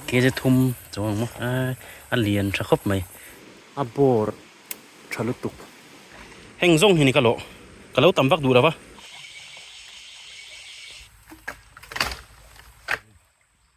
Kz thum chuang ang maw a lian tha khawp mai a bawr tha lutuk heng zawng hi ni ka lawh ka lo tam vak duh lo va.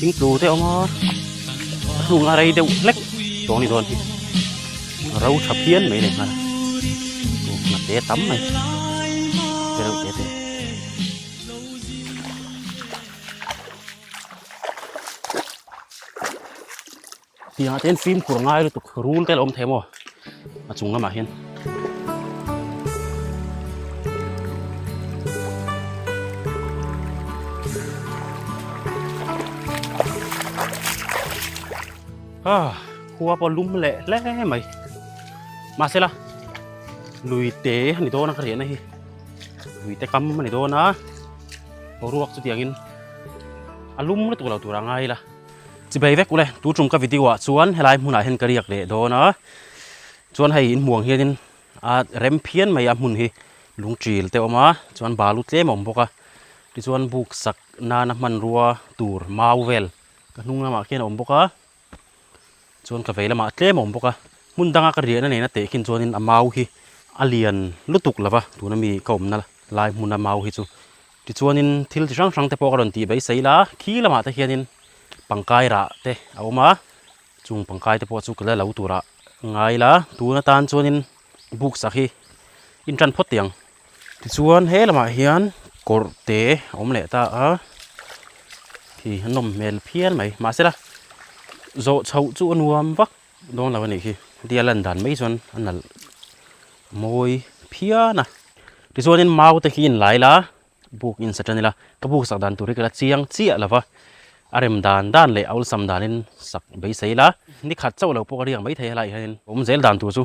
Thing tlu te awm a a hnung a rei deuh hlek tawh ni dawn hi a ro tha phian mai nei hmana aw ngah te tam mai te reuh te te Pianah te hian fim khur ngai lutuk rul te a lo awm thei maw a chung lamah hian. Ah, khua pawh lum leh hle mai mahse la lui te a ni dawn a ka riahna hi lui te kam a ni dawn a ruak chutiangin a lum lutuk lo tur a ngai la Chibei vek ule, tu chung ka video ah chuan helai hmunah hian ka riak leh dawn a, chuan hei in hmuang hianin a rem phian mai a hmun hi lungtil te awm a, chuan balu tlem a awm bawk a, tichuan buksak nana hmanrua tur mau vel ka hnung lamah khian a awm bawk a, Chuan ka vei lamah a tlem a awm bawk a, hmun danga ka riahna neina teh khin chuanin a mau hi a lian lutuk lo va, tuna mi ka awmna lai hmun a mau hi chu. Tichuanin thil chi hrang hrang te pawh ka rawn tih beisei la, khi lamah te hianin pangkai rah te a awm a, chung pangkai te pawh chu ka la lo turah ngai la, tun atan chuanin books ah khi in tan phawt teh ang. Tichuan he lamah hian kawr te a awm leh ta a khi a nawm hmel phian mai mahse la zawh chho chu a nuam vak dawn lo a nih hi heti a lan dan mai chuan a nalh mawi phian a tichuanin mau te hi a inlai la buk in sa tan ila ka buk sak dan tur hi ka la chiang chiah lo va a rem dan dan leh a awlsam danin sak beisei la nikhat chauh lo pawh ka riak maithei a laiah hianin awmzel dan tur chu.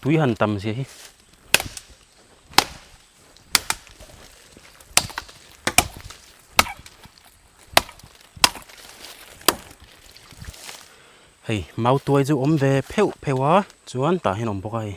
tui han tam zia hi hei mau tuai chu awm ve pheuh pheuh a chuan tah hian a awm bawk a hei.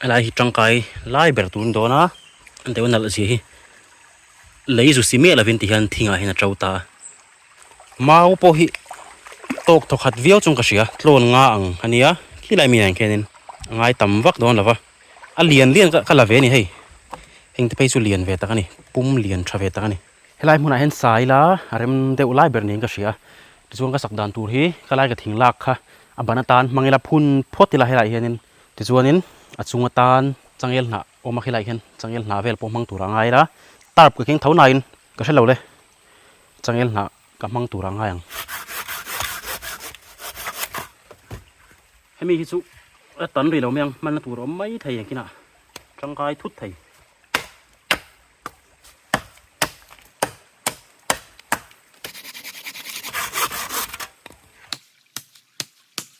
helai hi tangkai lai ber tur a ni dawn a deuh nalh si hi lei zu si miah lovin tih hian thing ah hian a to ta a mau pawh hi tawk thaw khat viau chawng ka hria tlawn nga ang a nia khilai mi ah khianin a ngai tam vak dawn lova a lian lian ka la ve a ni hei heng te phei chu lian ve tak a ni pum lian tha ve tak a ni helai hmunah hian sa ila a rem deuh lai ber niin ka hria tichuan ka sak dan tur hi ka lai ka thing lak kha a ban atan hmang ila phun phawt ila helaiah hianin. Tichuanin a chung atan changel hnah awm a, khilaiah hian changel hnah vel pawh hmang tur a ngai a, tarp ka keng tho nain ka hre lo le, changel hnah ka hmang tur a ngai ang. Hemi hi chu a tan rih lo mai ang, hmanna tur awm mai thei engkinah tangkai thut thei.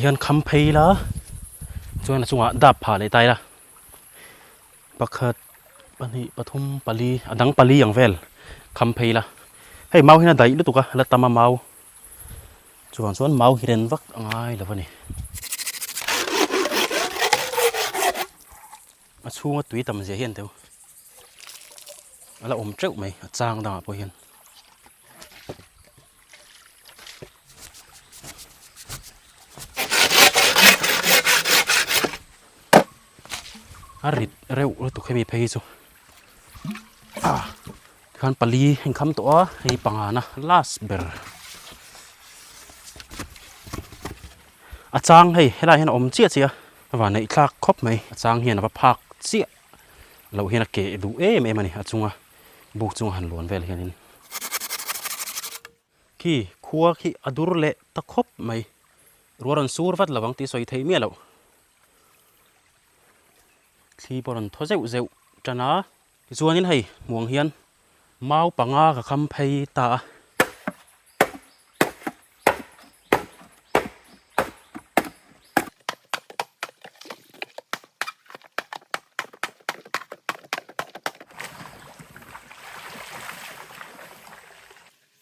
hian kham phei la chuan a chungah dap phah leh ta ila pakhat pahnih pathum pali a dang pali ang vel kham phei ila hei mau hian a daih lutuk a la tam a mau. Chuvang chuan mau hi ren vak a ngai lo a ni. A chhunga tui tam zia hian deuh a la awm teuh mai a chang dangah pawh hian. A rit reuh lutuk a ni phei hi chu. Tikhan pali a in kham tawh a, hei hi panga na last ber. A chang hei, helai hian a awm chiah chiah a, va neih thlak khawp mai. A chang hian a va phak chiah loh hian a ke duh em em a ni, a chunga buk chunga han luan vel hian in. Khi khua khi a dur leh ta khawp mai, rual rawn sur vat lo ang tih sawi thei miah loh. thli pawh rawn thaw zeuh zeuh tan a. Tichuanin hei hmuang hian mau panga ka kham phei ta a.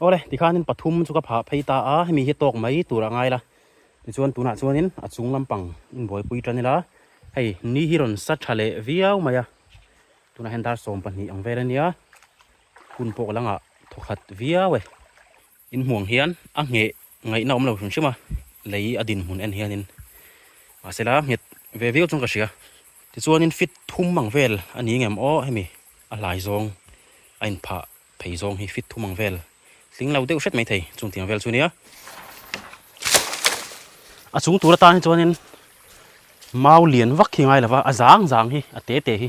Ore, tikhanin pathum chu ka pha phei ta a, hemi hi tawk mai tur a ngai la. Tichuan tunah chuanin a chung lampang inbuaipui tan ila, hei ni hi rawn sa tha leh viau mai a. Tunah hian dar sawm pahnih ang vel a nia, Hun pawh langa thaw khat viau e. In hmuang hian a ngheh ngaihna awm lo hrim hrim a, lei a din hmun en hianin. Mahse la, nghet ve viau chuan ka hria. Tichuanin fit thum ang vel a nih ngem aw hemi a hlai zawng a in phah phei zawng hi fit thum ang vel tling lo deuh hret mai thei chung tiang vel chu nia. A chung tur atan hi chuanin mau lian vak hi ngai lova a zang zang hi a te te hi.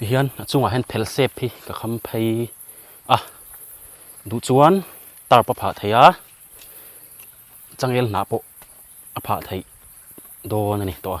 Tihian a chungah hian phel sep hi ka kham phei a duh chuan tarp a phah theih a changel hnah pawh a phah theih dawn a ni tawh a.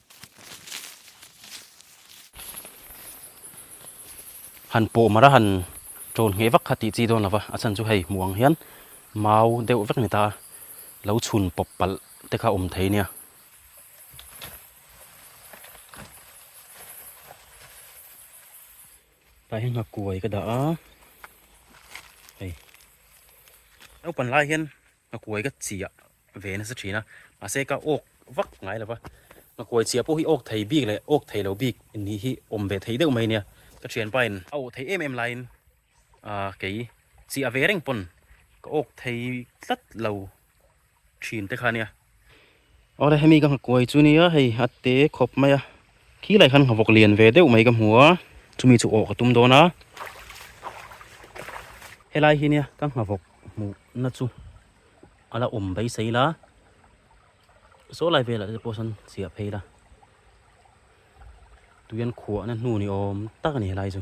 Han pawh marh a han ṭawn ngheh vak kha tih chi dawn lo va, a chhan chu hei hmuh ang hian mau deuh vek ni ta lo chhun pawp palh te kha awm thei nia. Tlai hi nghakuai ka dah a, hei naupan lai hian. Ka kuai ka chiah ve nasa thin a, mahse ka awk vak ngai lo va, ka kuai chiah pawh hi awk thei bik leh awk thei lo bik nih hi awm ve thei deuh mai nia, ka thianpain a awh thei em em laiin aah kei chiah ve reng pawn ka awk thei tlat lo thin te kha nia. Aw re hemi ka nghakuai chu nia hei a te khawp mai a, khi lai khan nghavawk lian ve deuh mai ka hmu a, chumi chu aw ka tum dawn a, helai hi nia ka nghavawk hmuhna chu a la awm beisei la, saw lai velah te pawh sa'n chhiah phei la, tui hian khuahna hnu ni awm tak a ni helai chu.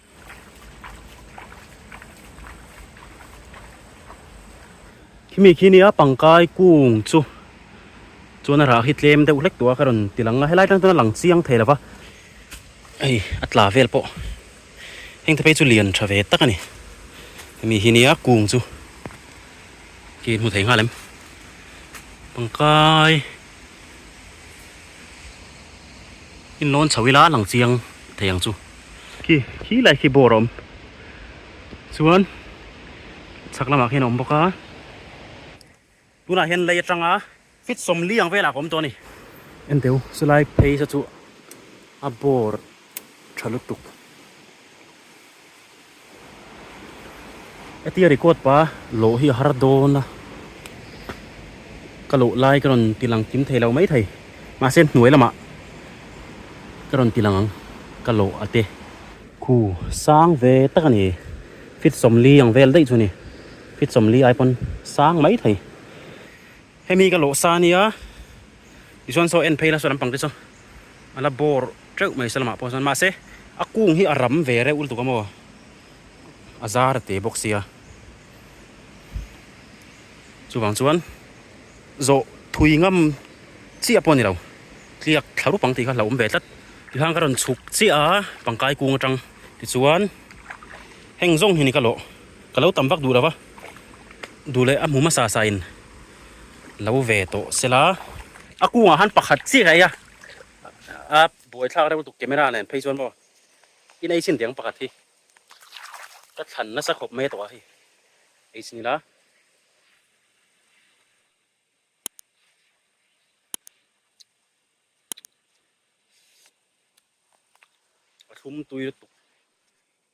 Khimi khi nia pangkai kung chu chuan a rah hi tlem deuh hlek tawh a ka rawn ti lang a helai tan chuan a lang chiang thei lova hei a tla vel pawh heng te phei chu lian tha ve tak a ni hemi hi nia kung chu khi hmu thei nghal em pangkai. in nawn chho ila lang chiang thei ang chu khi khi lai khi bawr a awm chuan chhak lamah khian a awm bawk a tunah hian lei atanga fit sawm li ang velah ka awm tawh a ni. Enteu chulai phaisa chu a bawr. Tha lutuk. Eti a record pa loh hi a har dawn a. Ka loh lai ka rawn ti lang kim thei lo mai thei. Mahse hnuai lamah ka rawn ti lang ang ka loh a te. Khu sang ve tak a ni. Fitsawmli ang vel daih chu a ni. Fitsawmli ai pawn sang mai thei. Hemi ka lawh sa nia, tichuan saw en phei la saw lampang te chu a la bawr teuh mai se lamah pawh chuan mahse a kung hi a ram ve reuh lutuk a maw a zar a teh bawk sia, chuvang chuan zawh thui ngam chiah pawh a ni lo, tliak thla rup ang tih kha hlauhawm ve tlat. Tichuan ka rawn chhuk chiah a pangkai kung atang tichuan heng zawng hi ni ka lawh ka lo tam vak duh lo va. duh leh a hmu hmasa sa in lo ve tawh se la. A kungah han pakhat chiah a ia a buai thlak reuh tuk camera nen phei chuan maw in ei chin deng pakhat hi ka thlan nasa khawp mai a tawh a hei ei chin ila. A thlum tui lutuk.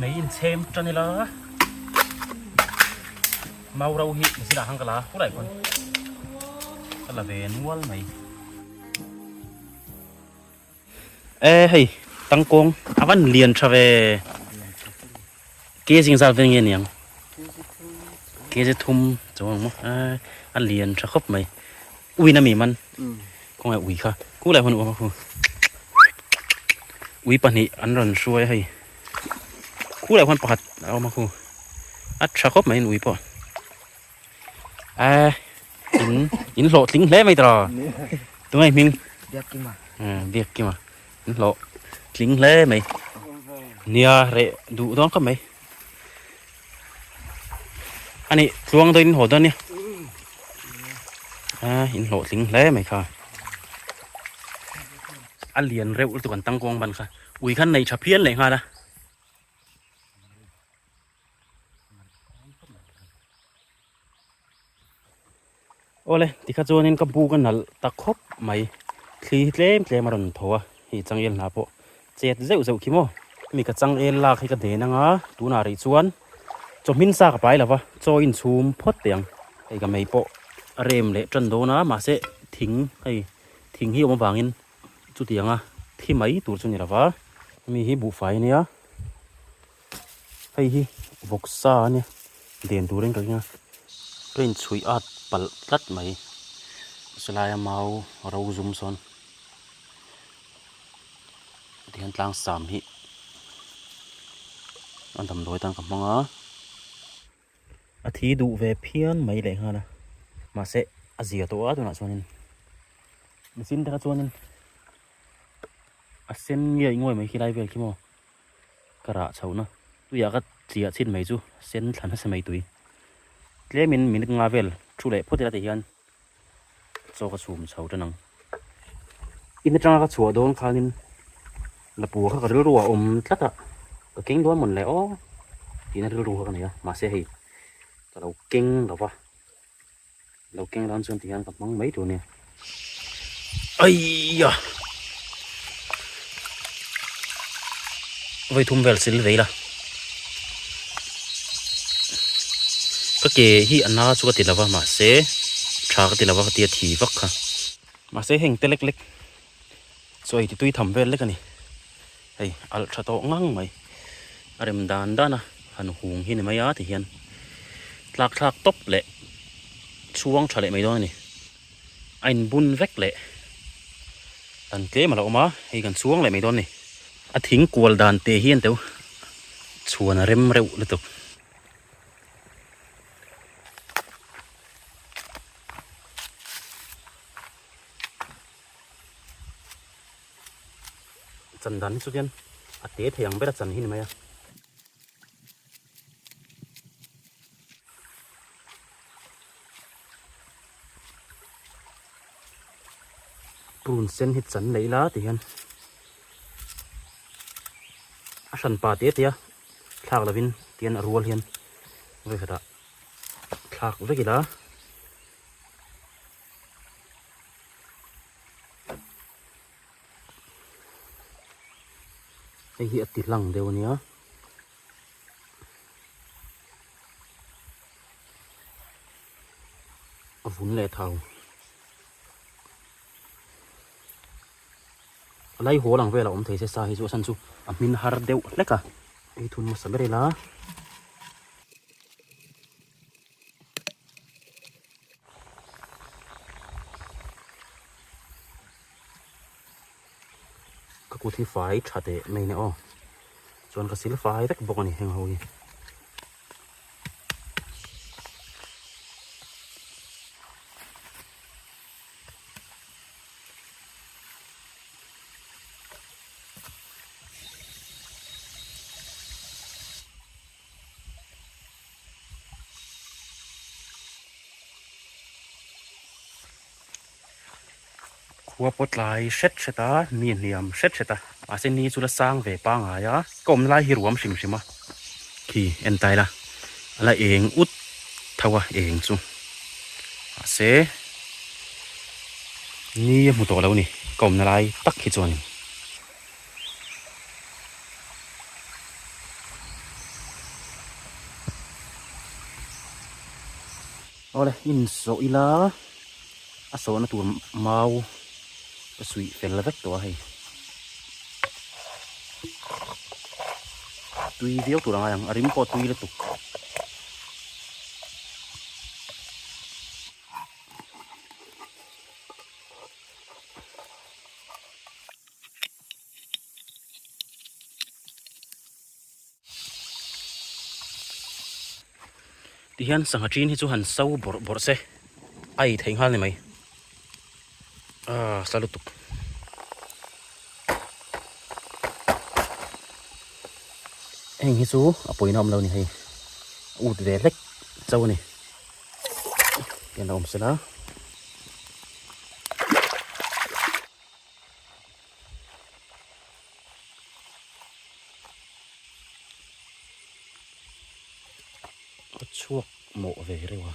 Mei in chhem tan ila mau ro hi machine ah khan ka la pu daih pawn ka la ve nual mai e hei tangkawng a van lian tha ve Kg zingzal vel nge niang? Kg thum chaw ang maw? A lian tha khawp mai. Uina mi man. Kung ai ui kha. Ku lai hun u khu. Ui pahnih an ran hruai hei. Ku lai hun pakhat a awm a khu. A tha khawp mai in ui pawh. a in in hlawh tling hle mai tara tungai hming biak kima biak kima in hlawh tling hle mai nia re du dawng ka mai ani tluang do in ho do nia a in hlawh tling hle mai kha a lian reuh tu kan tang kong ban kha ui khan nei tha phian leh ngala ole tikha chuan in ka bu ka nal ta khawp mai thli hi tlem tlem a rawn tho a hei chang el hna pawh chet zeuh zeuh khi maw mi ka chang el lak hi ka den anga tunah rih chuan chawhmin sa ka pai lova chaw in chhum phawt te ang hei ka mei pawh a rem leh tan dawn a mahse thing hei thing hi awm avangin chutianga thi mai tur chu ni lova mi hi buhfai a nia Hei hi vawksa a nia den tur in kan ring a train chhuih at palh tlat mai salai a mau ro zum sawn tihian tlang sam hi a damdawi tan ka hmang a. A thi duh ve phian mai leh nghal a, mahse a zia tawh a tunah chuanin machine taka chuanin a sen ngiaih nguai mai khi lai vel khi maw ka rah chho na tuiah ka tliah chhin mai chu sen thla nasa mai tui tlemin minute nga vel thu leh phawt ila ti hian Chaw ka chhum chho ṭan ang. In aṭanga ka chhuah dawn khanin Lapua kha ka rilru a awm tlat a, ka keng dawn mawn leh aw tihna rilru kha ka nei a, mahse hei ka lo keng lo a, lo keng dan chuan tihian ka hmang mai tur nia. Aiya! vawi thum vel sil vei la ka ke hi a na chu ka ti lo va mahse tha ka ti lo va ka ti a thi vak kha mahse heng te lek lek chu a intitui tham vel lek a ni hei alh tha tawh ngang mai a rem dan dan a han hung hi ni mai a ti hian tlak thlak tawp leh chhuang tha leh mai dawn a ni. A in bun vek leh dan tlem alo awm a hei kan chuang leh mai dawn a ni. A thing kual dan te hian teu chhuan a rem reuh lutuk. Chan dan hi chu khian a te thei ang ber a chan hi ni mai a. prun sen hi chan neih la ti hian a hran pa tê tê a thlak lo in tian a rual hian vawi khatah thlak vek ila hei hi a ti hlang deuh a nia a vun leh thau a lai haw lang vela awm thei se sa hi chu a chhan chu a hmin har deuh hlek a ei thun hmasa ber ila. ka kut hi fai tha teh mai nè aw chuan ka sil fai vek bawk a ni heng ho hi Khua pawh tlai hret hret a ni hliam hret hret a. Mahse ni chu la sang ve pangai a, ka awm lai hi ruam hrim hrim a khi en ta ila a la eng ut tho a eng chu. Mahse ni a hmu tawh lo a ni ka awmna lai tak hi chuan. Awle in sawh ila a sawhna tur mau ka suih fel vek tawh a hei tui viau tur angai ang a rim pawh tui lutuk Tihian sangha ṭin hi chu han so bawrh bawrh se a ei theih nghal ni mai ahh sa lutuk heng hi chu a pawina awm lo ni hei a ut ve hlek chau a ni tihian a awm sela. chhuak mawh ve reuh a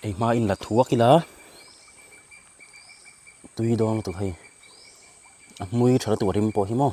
kei hma in la thu vak ila tui dawng lutuk hei a hmui tha lutuk rim pawh hi maw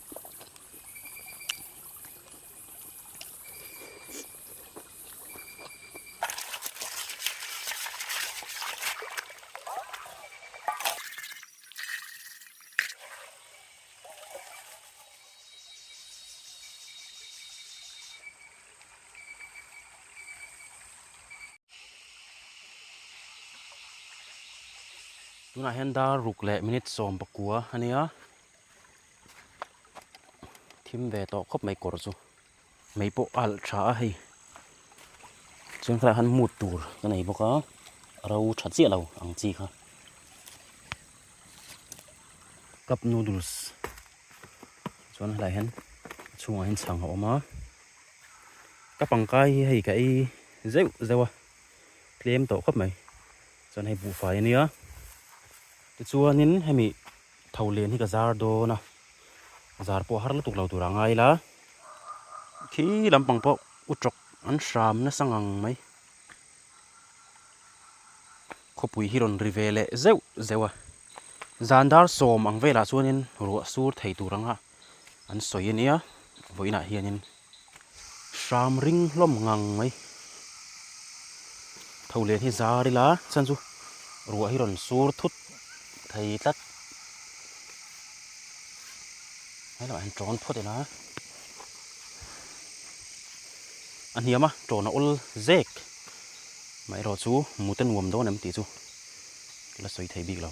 tunah hian dar ruk leh minute sawm pakua a nia. thim ve tawh khawp mai kawr chu mei pawh a alh tha a hei chuan khatiang khan mut tur ka nei bawk a a ro tha chiah lo ang chi kha cup noodles chuan helaiah hian a chhungah hian chhang a awm a ka pangkai hi hei ka ei zeuh zeuh a tlem tawh khawp mai chuan hei buhfai a nia tichuanin hemi Tho len hi ka zar dawn a, zar pawh har lutuk lo turah ngai la, khi lampang pawh u tawk an hram nasa ngang mai. Khawpui hi rawn ri ve leh zeuh zeuh a, zan dar sawm ang velah chuanin ruah sur thei tur anga. an sawi a nia a vawiinah hianin hram ring hlawm ngang mai tho len hi zar ila chhan chu ruah hi rawn sur thut thei tlat he lamah hian ṭawn phawt ila a hniam a ṭawn a awl zek amaherawh chu mute nuam dawn em tih chu la sawi thei bik lo.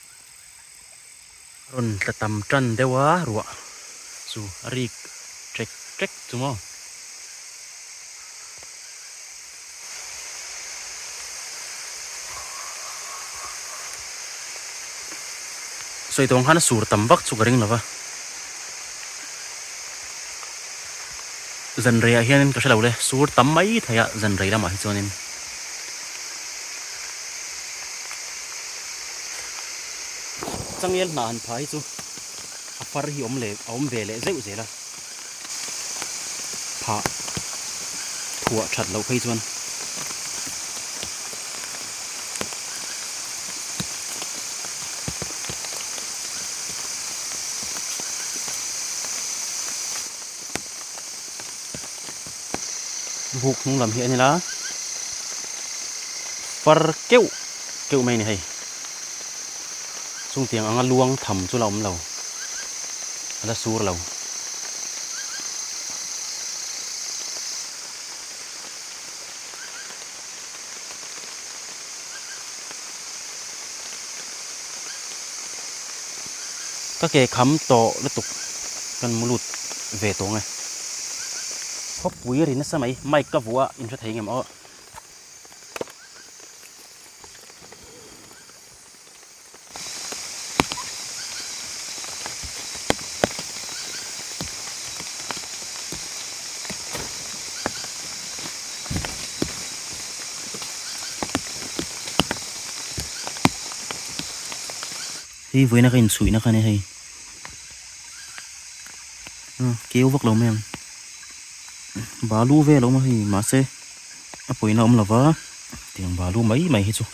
A rawn tla tam tan deuh a ruah chu a rik ṭek ṭek chu maw. Sawitawng khan a sur tam vak chu ka ring lova. Zanreiah hianin ka hre lo le, sur tam mai thei a Zanrei lamah hi chuanin. Changial hna han pha hi chu a far hi awm leh a awm ve leh zeuh zel a. Phah phuah that loh phei chuan buk hnung lam hi a nil a, far keuh keuh mai a ni hei, chungtiang anga luang tham chu la awm lo, a la sur lo. Ka ke kham tawh lutuk kan mu lut ve tawh nge. Khawpui a ri nasa mai, mic ka vuah a in hre thei ngemaw. Hei vawiin a ka insuihna kha nia hei ah keu vak lo mai ang balu vel a awm a hei mahse a pawina awm lo va tiang balu mai mai hi chu.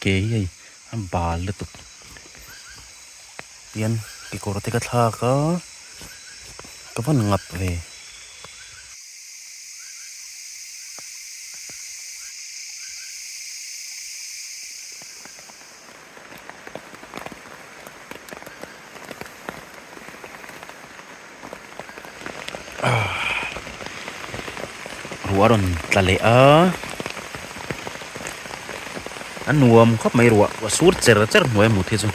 Kei hei a bal lutuk pian kekawr te ka thlak a ka van ngap ve. ruah a rawn tla leh a a nuam khawp mai ruah ruah sur cher cher hnuaia mut hi chu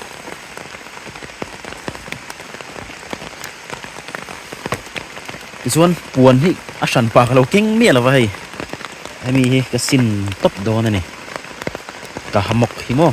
tichuan puan hi a hran pak lo keng miah lova hei hemi hi ka sin tawp dawn a ni ka hamawk hi maw.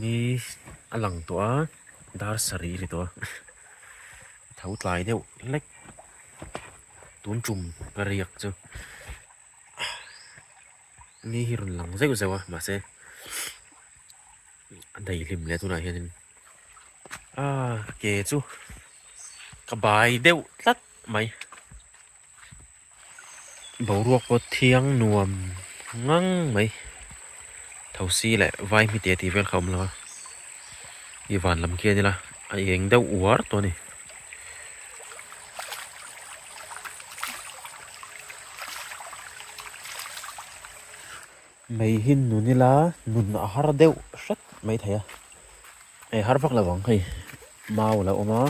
ni a lang tawh a dar sarih ri tawh a tho tlai deuh hlek tun tum ka riak chu ni hi rawn lang zeuh zeuh a mahse a dai hlim leh tunah hianin aaa ke chu ka bai deuh tlat mai. Boruak pawh thiang nuam ngang mai. Thosi leh vai hmi te tih vel kha a awm lo a. I van lam khi a nila a eng deuh uar tawh a ni. Mei hi nun ila nun a har deuh hret mai thei a. Hei har vak lovang hei mau alo awm a.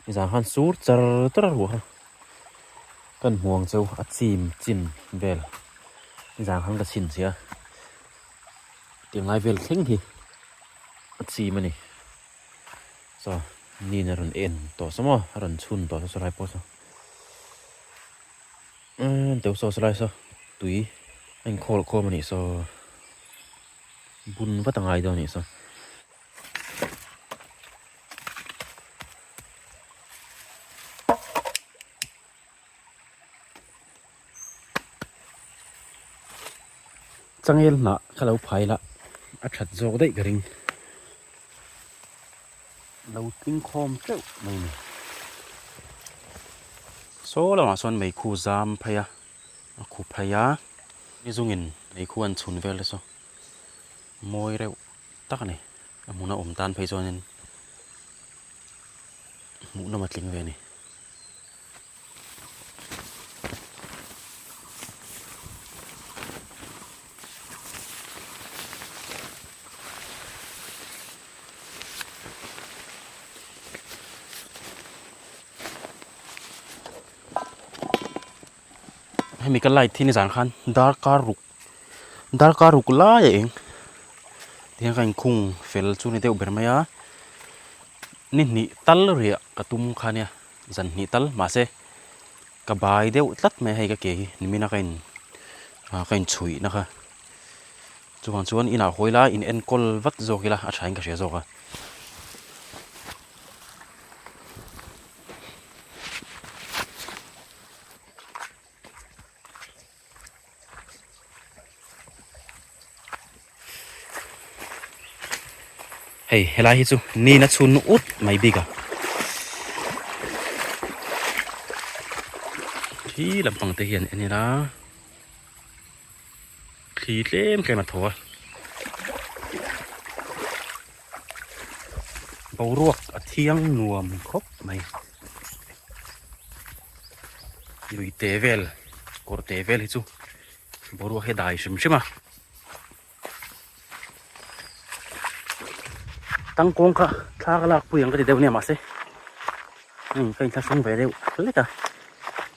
Nizan khan sur char char a ruah a, kan hmuang chu a chim chim vel. Nizan khan ka chhin sia, ti ngai vel thleng hi a chim a ni. Saw nin a rawn en tawh saw maw, a rawn chhun tawh saw lai pawh saw. Umm deuh saw saw lai saw, tui a inkhawm khawm a nih saw. Bun vat a ngai dawn a nih saw. changel hnah ka lo phai lah a that zawk daih ka ring lo tling khawm teuh mai ni saw lamah sawn meikhu zam phei a a khu phei a ni zung in meikhu an chhun vel te chu mawi reuh. tak a ni. A hmun a awm tan phei chuanin hmuh nawm a tling ve a ni. Hemi ka light hi ni zan khan dark a ruk. Darkar uk lai a eng tihian ka inkhung fel chu ni deuh ber mai a, ni hnih tal riah ka tum kha nia zan hnih tal mahse ka bai deuh tlat mai a hei ka ke hi ni mina ka in ah ka inchhuih na kha chuvang chuan inah a hawi lai in enkawl vat zawk ila a thain ka hria zawk a. Hei helai hi chu nina chhun na ut mai bik a khi lampang te hian en ila khi tlem tlem a tho a boruak a thiang nuam khawp mai. lui teh vel kawr teh vel hi chu boruak hi a dai hrim hrim a tang kawng kha thlak a lakpui ang ka ti deuh nia mahse hei ka inthlahrang ve deuh hlek a.